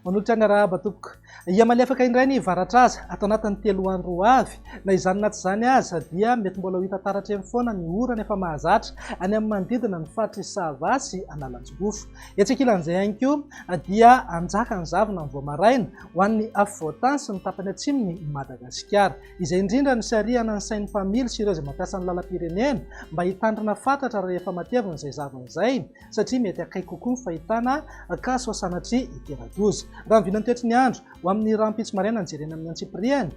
Manolotra ny arahaba tompoko. Hiamaly afaka indray ny varatraza ato anatin'ny telo andro ho avy. Na izany na tsy izany aza dia mety mbola ho hita taratra eny foana ny orana efa mahazatra any amin'ny manodidina ny faritry Sava sy Analanjirofo. Etsy ankilan'izay ihany koa dia hanjaka ny zavona amin'ny vao maraina. ho an'ny afovoan-tany sy ny tapany atsimon'i Madagasikara, izay indrindra no sarihana ny sain'ny mpamily sy ireo izay mampiasa ny lalam-pirenena mba hitandrina fatratra rehefa matevina izay zava izay satria mety akaiky kokoa ny fahitana kaso sanatria hitera-doza. Raha ny vinan'ny toetry ny andro ho amin'ny rahampitso maraina ny jerena amin'ny antsipiriany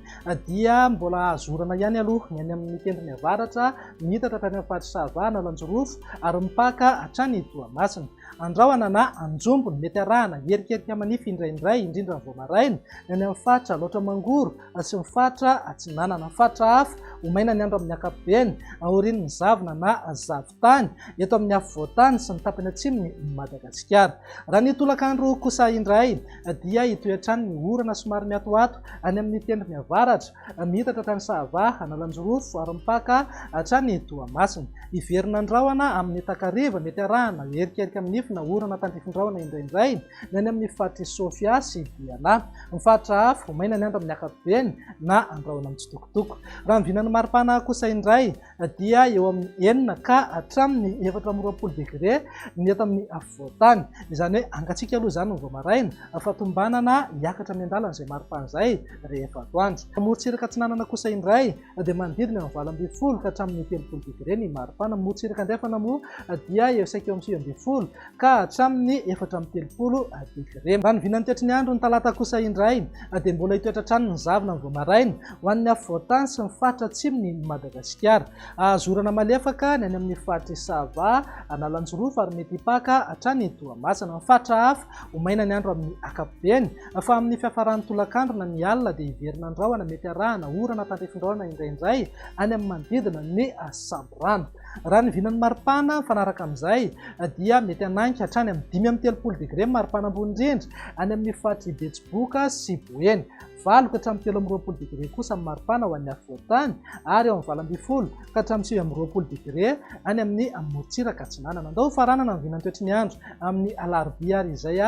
dia mbola azo orana ihany aloha ny any amin'ny tendrony avaratra miitatra hatrany amin'ny faritra Sava, Analanjirofo ary mipaka hatrany Toamasina. Andrahona na anjombony, mety arahana, hierikerika manify indraindray, indrindra ny vao maraina, ny any amin'ny faritra Alaotra Mangoro sy ny faritra Atsinanana. Ny faritra hafa, ho maina ny andro amin'ny ankapobeny, aorian'ny zavona na zavon-tany, eto amin'ny afovoan-tany sy ny tapany atsimon'i Madagasikara. Raha ny tolakandro kosa indray dia hitohy hatrany ny orana somary miatoato any amin'ny tendrony avaratra, Miitatra hatrany Sahava, Analanjirofo ary mipaka hatrany Toamasina. Hiverina ny rahona amin'ny takariva, mety arahana erikerika amin'ny nifona orana tandrifin-drahona indraindray ny any amin'ny faritr'i Sofia sy Diana. Ny faritra hafa ho maina ny andro amin'ny ankapobeny na andrahona mitsitokotoko. Raha ny vinan'ny maripana kosa indray, dia eo amin'ny enina ka hatramin'ny efatra amby roapolo degre ny eto amin'ny afovoan-tany. Izany hoe hangatsiaka aloha izany vao maraina fa tombanana hiakatra miandalana izay maripana izay rehefa atoandro. Morontsiraka atsinanana kosa indray dia manodidina ny valo ambin'ny folo ka hatramin'ny telopolo degre ny maripana. Morontsiraka andrefana moa dia eo saika eo amin'ny sivy ambin'ny folo ka hatramin'ny efatra amby telopolo degre. Raha ny vinany tetry ny andron'ny talata kosa indray dia mbola hitoetra hatrany ny zavona vao maraina ho an'ny afovoantany sy ny faritra atsimon'i Madagasikara. Hahazo orana malefaka ny any amin'ny faritr'i Sava, Analanjirofo ary mety hipaka hatrany Toamasina. Ny faritra hafa ho maina ny andro amin'ny ankapobeny fa amin'ny fiafaran'ny tolakandro na ny alina dia hiverina ny rahona mety harahana orana tandrifindraona indraindray any amin'ny manodidina ny samborano. Raha ny vinan'ny maripana mifanaraka amin'izay dia mety hanaiky hatrany amin'ny dimy amby telopolo degre ny maripana ambony indrindra any amin'ny faritr'i Betsiboka sy Boeny, valo ka hatramin'ny telo amby roapolo degre kosa ny maripana ho an'ny afovoantany ary eo amin'ny valo ambin'ny folo ka hatramin'ny sivy amby roapolo degre any amin'ny morontsiraka atsinanana. Andao hofaranana ny vinantoetry ny andro amin'ny alarobia ary izay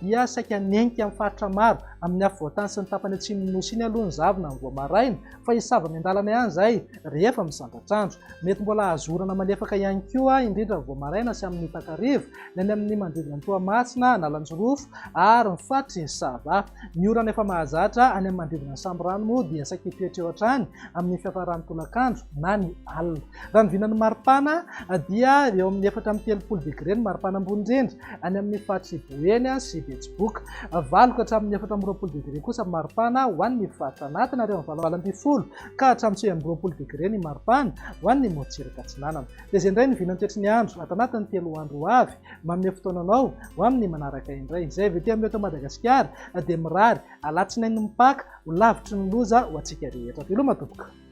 dia saika hanenky amin'ny faritra maro amin'ny afovoantany sy ny tapany atsimon'ny Nosy iny aloha ny zavona amin'ny voamaraina, Fa hisy zava-miandalana ihany izay rehefa misandratra andro. Mety mbola hahazo orana malefaka ihany koa, indrindra vao maraina sy amin'ny takariva, ny any amin'ny manodidina an'i Toamasina, Analanjirofo ary ny faritry Sava. Ny orana efa mahazatra any amin'ny manodidina ny Sambirano moa dia saika hitoetra eo hatrany amin'ny fiafaran'ny tolakandro na ny alina. Raha ny vinan'ny maripana dia eo amin'ny efatra amby telopolo degre ny maripana ambony indrindra any amin'ny faritry Boeny sy Betsiboka. Valo ka hatramin'ny efatra amby roapolo degre kosa ny maripana ho an'ny faritra anatiny ary eo amin'ny valo ambin'ny folo ka hatramin'ny sivy amby roapolo degre ny maripana ho an'ny morotsiraka atsinanana. Dia izay indray ny vinan'ny toetry ny andro ato anatin'ny telo andro ho avy. Manome fotoana anao ho amin'ny manaraka indray. Izay avy ety amin'ny eto Madagasikara dia mirary alatsinainy mipaka ho lavitry ny loza ho antsika rehetra. Veloma tompoko.